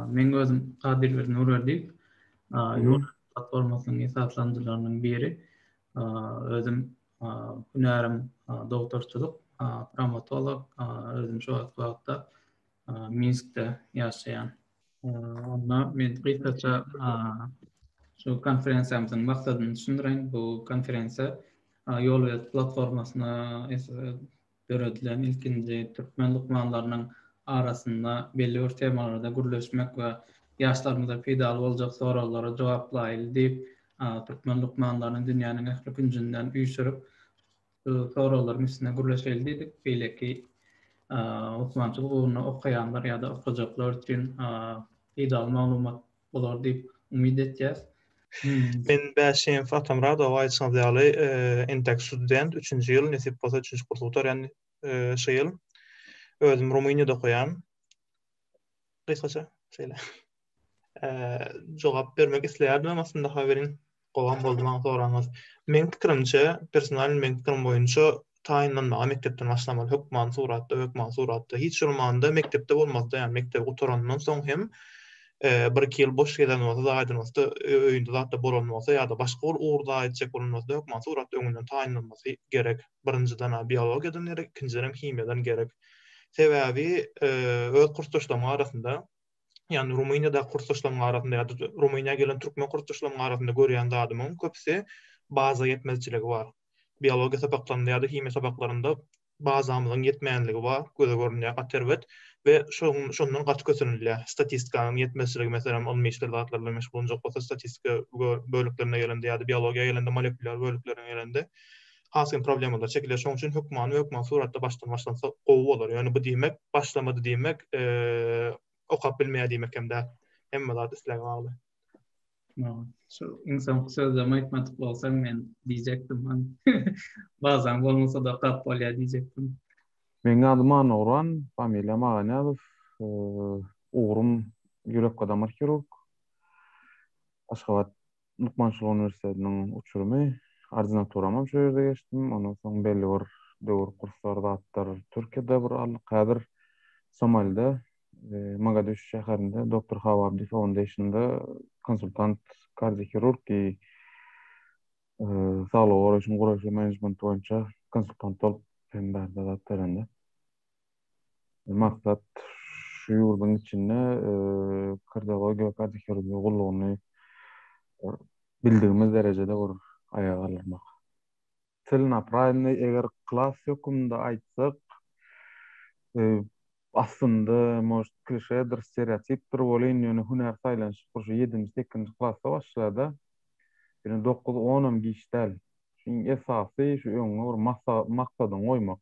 Meň özüm Gadyrberdi Nurberdiýew. Ýol platformasynyň esaslandyjylarynyň biri. Özüm hünärim dogdurçylyk, trawmatolog. Özüm şu wagtky wagtda Minskde ýaşaýan. Onda men gysgaça şu konferensiýamyzyň maksadyny düşündireýin. Bu konferensiýa Ýolbelent platformasyna döredilen ilkinji türkmen lukmanlarynyň arasynda belli bir temalarda gürleşmek we ýaşlarymyza peýdaly boljak soraglara jogap diýip, türkmen lukmanlaryny dünýäniň ähli künjünden üýşürip, Bu soraglaryň üstüne gürleşeli diýdik. Beýleki lukmançylyk ugruny okaýanlar ýa-da okajaklar üçin peýdaly maglumat bolar diýip umyt etýäs. Men Bäşiýew Atamyradow, aýdyşyňyz ýaly, entek student, üçünji ýyl, nesip bolsa üçünji kursy gutarýan şu ýyl. Özüm Rumyniýada okaýan. Gysgaça şeýle. jogap bermek isleýärdim, emma aslynda haberiň gowam boldy maňa soraňyz. Meň pikirimçe, personal meň pikirim boýunça taýynlanmaga mekdepden başlamaly, hökman suratda, hökman suratda. Hiç bolmanda mekdepde bolmazda, ýa mekdebi gutarandan soň hem bir-iki ýyl boş gezen bolsa, zaýadan bolsa, öýünde zat da bolan bolsa ýa-da başga bir ugurda aýtjak bolan bolsa, hökman suratda öňünden taýynlanmasy gerek. Birinjiden biologiýadan gerek, ikinjiden hem himiýadan gerek. Sebäbi öz kursdaşlaryň arasynda ýagny Rumyniýadaky kursdaşlarymyň arasynda ýa-da Rumyniýa gelen türkmen kursdaşlarymyň arasynda görýän zadymyň köpüsi baza ýetmezçiligi bar. Biologiýa sapaklarynda ýa-da himiýa sapaklarynda bazamyzyň ýetmänligi bar, göze görünýär gaty erbet we şoň şondan gaty kösenilýär. Statistikanyň ýetmezçiligi, meselem, ylmy işler zatlar bilen meşgullanjak bolsa, statistika böleklerine gelende ýa-da biologiýa gelende, molekulýar böleklerine gelende, has kyn problemalar çekiler. Şonuň üçin hökmany we hökman suratda başdan başlansa gowy bolar. Ýöne bu diýmek başlamady diýmek, okap bilmeýär diýmek hem däl. Hemme zat isläge bagly. Şu iň soňky sözlerimi aýtmadyk bolsaň men diýjekdim. Bazan bolmasa-da okap bolýar diýjekdim. Meniň adym Annagurban, familiýam Aganyýazow. Ugrum ýürek-damar hirurg. Aşgabat lukmançylyk uniwersitetiniň uçurymy, ordinaturam hem şo ýerde geçdim. Ondan soň belli bir döwür kurslar zatdyr Türkiýede bir aldyk. Häzir Somalide, e, Mogadişu şäherinde Doktor Hawabdi Foundation-da konsultant kardiohirurg diýi e, saglygy goraýşyň guraýyş we menejmenti boýunça konsultant bolup hem bärde zat berende. Maksat şu ýurduň içinde Kyrdagoý Geokarta Hirurgiýa gullugyny bildigimiz derejede bir aýaga galdyrmak. Celenoprawyny eger klas höküminde aýtsak, aslynda, может, klişedir, stereotipdir welin, ýöne hünär saýlanyşyk bir şu ýedinji-sekizinji klasda başlar-da, ýöne dokuz-onam giç däl. Iň esasy şu öňüňe bir maksat, maksadyňy goýmak.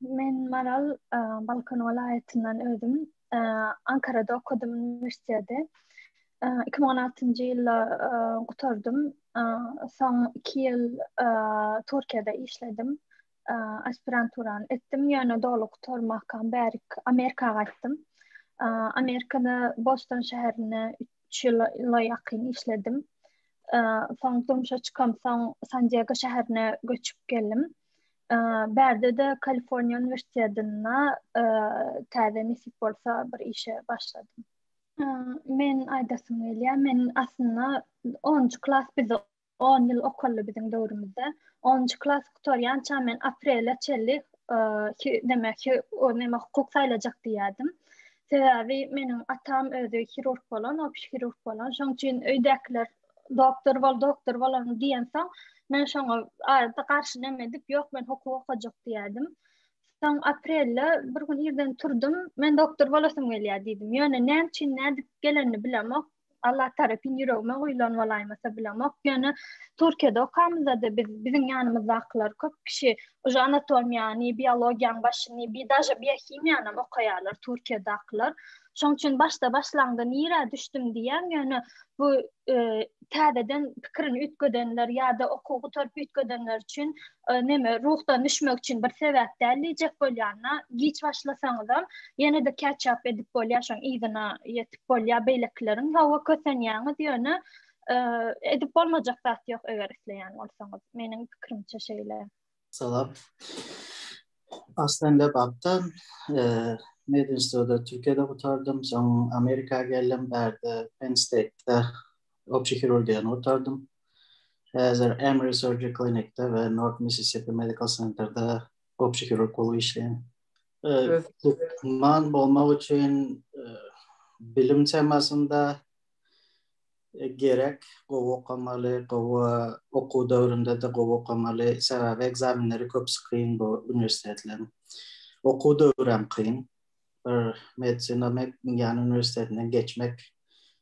Men Maral, Balkan welaýatyndan özüm. Ankarada okadym uniwersiteti. 2016-njy ýylda gutardym. Soň 2 ýyl Türkiýede işledim. Aspiranturany etdim, ýöne doly gutarmakam bärik Amerika gaýtdym. Amerikada Boston şäherinde 3 ýyla ýakyn işledim. Soň durmuşa çykamsoň San-Diego şäherine göçüp geldim. Bärde-de Kaliforniýa uniwersitetinde täze nesip bolsa bir işe başladym. Men aýdasym gelýär, men aslynda onunjy klas biz on ýyl okaldy biziň döwrümizde. Onunjy klas gutarýança men aprele çenli demek ki, o näme hukuk saýlajak diýýärdim. Sebäbi meniň atam özi hirurg bolan, opşy hirurg bolan. Şonuň üçin öýdäkiler doktor bol, doktor bol onu diýen soň, men şoňa adatda garşy näme edip, ýok men hukuk okajak diýerdim. Soň aprelde bir gün irden turdum, men doktor bolasym gelýär diýdim. Ýöne näme üçin nädip gelenini bilemok. Allah tarapyn ýüregime guýlan bolaýmasa bilemok. Ýöne Türkiýede okamyzda-da biz biziň ýanymyzdakylar köp kişi uje anatomiýany, biologiýanyň başyny, bir daže biohimiýany okaýarlar Türkiýedakylar. Şoň üçin başda başlaňda nirä düşdüm diýýän, ýöne bu täzeden pikirini üýtgedenler ýa-da okuw gutaryp üýtgedenler üçin näme ruhdan düşmek üçin bir sebäp däl diýjek bolýan-da, giç başlasaňyzam ýene-de ketchup edip bolýar, şoň yzyna ýetip bolýar beýlekileriň. Hawa, kösenýäňiz, ýöne edip bolmajak zat ýok eger isleýän bolsaňyz. Meniň pikirimçe şeýle. Salam. Aslan Lebapdan, Medinstitutda Türkiýede gutardym, soň Amerika geldim, bärde Penn State-de opşi hirurgiýany gutardym. Häzir Emory Surgery Clinic-de we North Mississippi Medical Center-de opşi hirurg bolup işleýän. Lukman bolmak üçin bilim temasynda Gerek, gowy okamaly, gowy okuw döwründe-de gowy okamaly, sebäbi ekzamenleri köpüsi kyn bu uniwersitetleriň. Okuw döwri hem kyn. Bir medisina ýany uniwersitetinden geçmek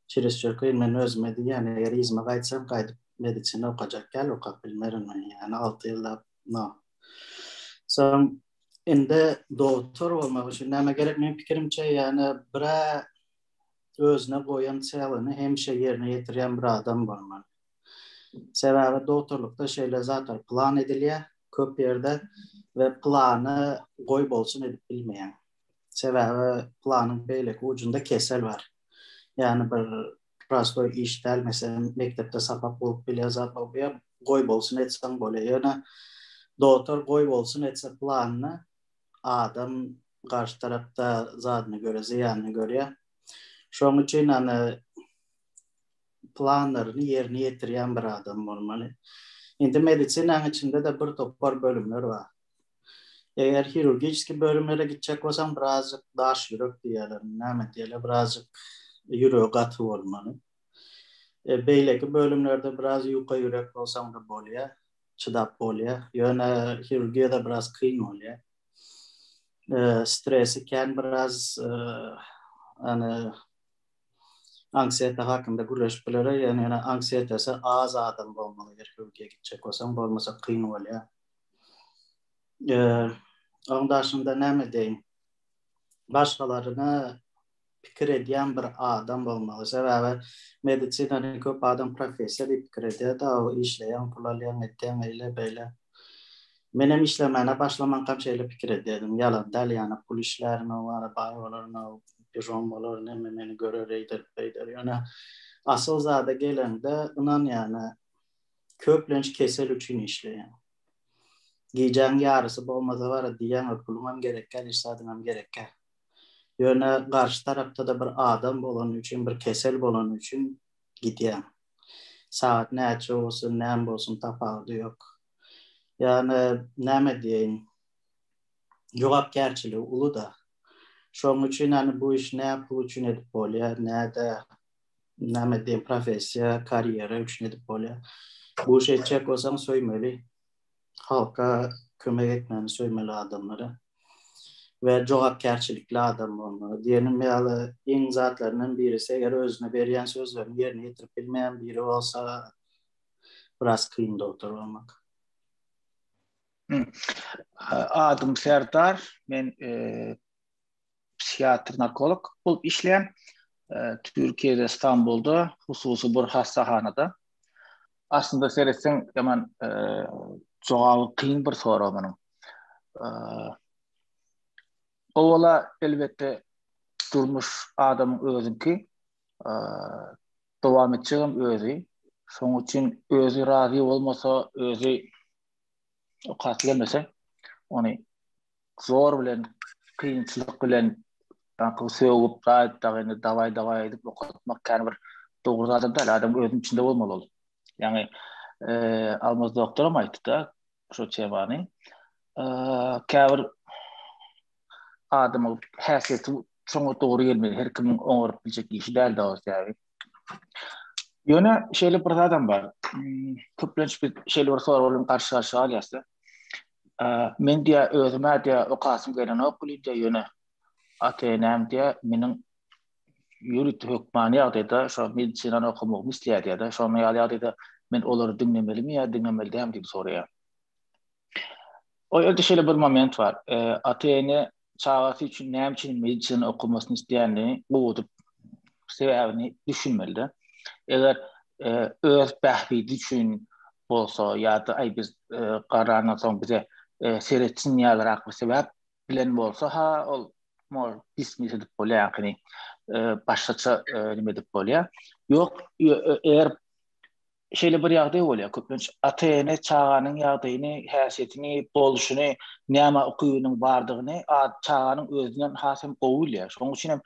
çirisçür kyn. Men özüme diýýän, eger yzyma gaýtsam, gaýdyp medisina okajak däl, okap bilmerin men, ýani alty ýyllap, no. Soň indi dogtor bolmak üçin näme gerek? Meniň pikirimçe, ýani bir-ä özüne goýan çägini hemişe ýerine ýetirýän bir adam bolmaly. Sebäbi dogtorlykda şeýle zatlar plan edilýär köp ýerde we plany goý bolsun edip bilmeýäň. Sebäbi planyň beýleki ujunda kesel bar. Ýagny bir prostoý iş däl, meselem mekdepde sapak bolup bilýär zat bolup bilýär, goý bolsun etseň bolýar. Ýöne dogtor goý bolsun etse planyny, adam garşy tarapda zadyny görýär, zyýanyny görýär. Şonuň üçin ýani planlaryny ýerine ýetirýän bir adam bolmaly. Indi medisinanyň içinde-de bir topar bölümler bar. Eger hirurgiski bölümlere gitjek bolsaň, birazjyk daş ýürek diýýärler, näme diýýärler, birazjyk ýüregi gaty bolmaly. Beýleki bölümlerde biraz ýuka ýürek bolsaň-da bolýar. çydap bolýar. Ýöne hirurgiýada biraz kyn bolýar. Stresi kän biraz ýani anksiýete hakynda gürleşip bileris. Ýöne ýene anksiýetesi az adam bolmaly eger hirurgiýa gitjek bolsaň, bolmasa kyn bolýar. Onuň daşynda näme diýeýin? Başgalaryna pikir edýän bir adam bolmaly. Sebäbi medisinany köp adam professiýa diýip pikir edýär-de, işleýäň, pul alýaň, etýäň, eýle, beýle. Menem işlemäne başlamankam şeýle pikir edýärdim. Ýalan däl, ýana pul işlärin-ow, ara baý bolaryn-ow, bižon bolaryn, hemme meni görer, eýder, beýder. Ýöne asyl zada geleňde, ynan ýa-da, köplenç kesel üçin işleýäň. Gijäň ýarysy bolmasa bara diýýäň-ow, puluňam gerekkä, iş zadyňam gerekkä. Ýöne garşy tarapda-da bir adam bolany üçin, bir kesel bolany üçin gidýäň. Sagat näçe bolsun, näme bolsun tapawudy ýok. Ýöne näme diýeýin, jogapkärçiligi uly-da. Şonuň üçin ýöne bu işi nä pul üçin edip bolýar, nä-de näme diýeýin, professiýa, karýera üçin edip bolýar. Bu işi etjek bolsaň söýmeli. Halka kömek etmegini söýmeli adamlara we jogapkärçilikli adam bolmaly. Diýenim ýaly iň zatlaryndan birisi eger özüne berýän sözlerini ýerine ýetirip bilmeýän biri bolsa biraz kyn dogtor bolmak. Adym Serdar men psihiatr-narkolog bolup işleýän. Türkiýede Stambulda hususy bir hassahanada. Aslynda seretseň, ýaman jogaby kyn bir sorag munuň. Owala elbetde durmuş adamyň özüňki. Dowam etjegem özi. Şonuň üçin özi razy bolmasa, özi okasy gelmese, ony zor bilen kynçylyk bilen Daňky sögüp gaýt dagy indi dawaý dawaý edip okatmak kän bir dogry zat däl. Adam özüniň içinde bolmaly ol. Ýagny eee Almaz doktoram aýtdy-da şu temany. Eee käbir adamyň häsiýeti şoňa dogry gelmeli. Her kimiň oňaryp biljek işi däl dagy sebäbi. Ýöne şeýle bir zadam bar. Hmm, köplenç biz şeýle bir sorag bilen garşy garşy galýarys. Men diýä özüme diýä okasym gelenok diýä ýöne ata-enem diýä meniň ýurtda hökman ýagdaýda şo medisinany okamak isleýär diýä de şonuň ýaly ýagdaýda men olary diňlemelimi ýa diňlemeli däl diýip soraýar. O ýerde şeýle bir moment bar. Ata-ene çagasy üçin näme üçin medisina okamasyny isleýändigini gowudyp sebäbini düşünmelide. Eger e, öz bähbidi üçin bolsa ýa-da aý biz e, garandan soň bize e, seretsin ýalyrak bir sebäp bilen bolsa ha ol mol dismiss edip bolýarkyny e, başgaça e, nime edip bolýar. Ýok e, eger Şeýle bir ýagdaý bolýar, köplenç ata-ene çaganyň ýagdaýyny, häsiýetini, bolşuny, näme ukybynyň bardygyny çaganyň özünden has hem gowy bilýär. Şonuň üçin hem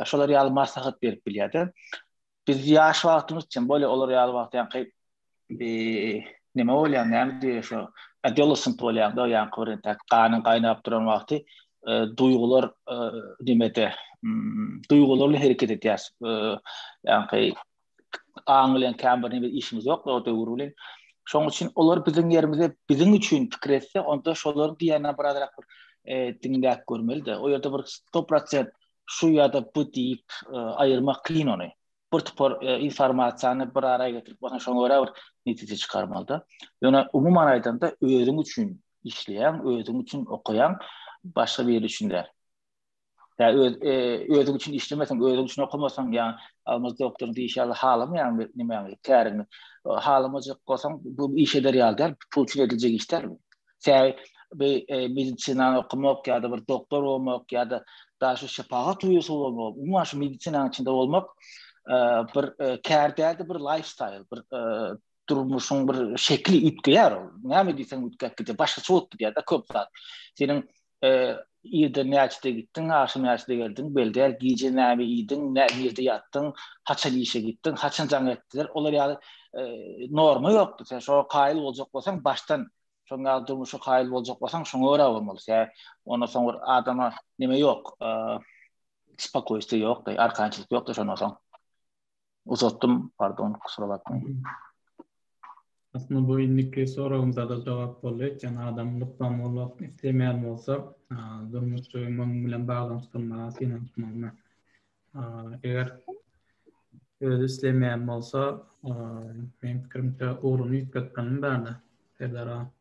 şolar ýaly maslahat berip bilýär-de. Biz ýaş wagtymyz üçin bolýar, olar ýaly wagt ýaňky näme bolýar, näme diýer şo, adolescent bolýar-da, ýaňky bir entäk ganyň gaýnap duran wagty, duýgular nimede, duýgular bilen hereket edýäris. Ýaňky aň bilen kän bir nebir işimiz ýokdy o döwür bilen. Şoň üçin olar biziň ýerimize biziň üçin pikir etse, onda şolar diýýänler birazrak bir e, diňläp görmeli-de. O ýerde bir 100% şu ýa-da bu diýip e, aýyrmak kyn ony. Bir topar e, informasiýany bir araya getirip, ondan şoňa görä bir netije çykarmaly-da. Ýöne umuman aýdanda özüň üçin işleýän, özüň üçin okaýan, başga biri üçin däl. Ya öz e, özüň üçin işlemeseň, özüň üçin okamasaň, ya almaz doktor diýişi ýaly halamaýan bir nime ýaly käriňi. Halamajak bolsaň, bu iş eder ýaly däl, pul üçin ediljek iş däl. Sen bir e, medisina okumak ýa-da bir doktor bolmak ýa-da daha şu şepagat uýasy bolmak, umuman şu medisinanyň içinde bolmak e, bir e, kär däldi, bir lifestyle, bir e, durmuşyň bir şekli üýtgeýär. Näme diýseň üýtgäp gidýär. Başgaça bolup gidýär-de köp zat. Seniň e, irde näçede gitdiň, agşam näçede geldiň, belder, gije näme iýdiň, näme ýatdyň, haçan işe gitdiň, haçan jaň etdiler, olar ýaly e, norma ýokdy. Sen şoňa kaýyl boljak bolsaň, başdan şoň ýaly durmuşa kaýyl boljak bolsaň, şoňa görä bolmaly. Ýa ondan soň bir adama näme ýok, e, spokoýstwo ýok, arkançylyk ýok da şoňa soň. uzatdym, pardon, kusura bakmaň. Aslynda bu indiki soragymyza da jogap boldy. Eýsem adam lukman bolmak islemeýän bolsa, durmuşy munuň bilen baglanyşdyrmaga synanyşmalymy? Eger özi islemeýän bolsa, meniň pikirimçe ugruny üýtgetmeli bärde, Serdar aga.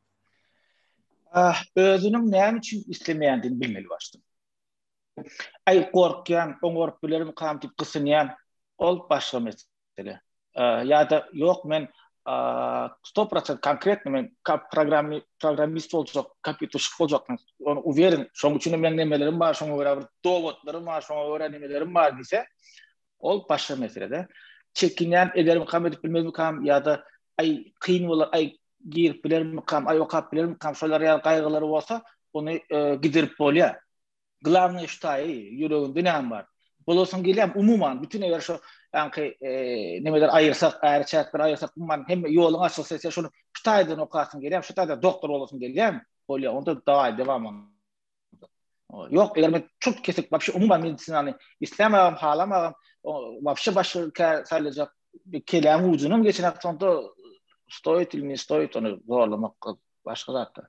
Özüniň näme üçin islemeýändigini bilmeli başdan. Aý, gorkýan, oňaryp bilermikam diýip gysynýan. Ol başga mesele. Ýa-da ýok, men sto prosent konkretno men programmist boljak, kompýuterşik boljak, men ony uweren, şonuň üçin hem meniň nemelerim bar, şoňa görä bir dowatlarym bar, şoňa görä nemelerim bar diýse, ol başga mesele-de. Çekinýän, edermikam, edip bilmezmikam ýa-da aý, kyn bolar, aý, girip bilermikam, aý, okap bilermikam, şolar ýaly gaýgylary bolsa, ony giderip bolýar. Glavnoý ştaý, ýüreginde näme bar? Bolasyň gelýärmi? Umuman, bütin eger şo ýaňky e, nemeler aýyrsak, äri çäkleri aýyrsak, umuman hemme ýoluň açylsa, sen şuny ştaýdan okasyň gelýärmi? Şu taýda doktor bolasyň gelýärmi? Bolýar, onda dawaý dewam. Ýok, eger men çut kesik, wapşe umuman medisinany islämagam, halamagam, wapşe başga kä saýlajak keläň ujunam geçen hakda onda stoýit ilmi, stoýit ony zorlamak başga zatda.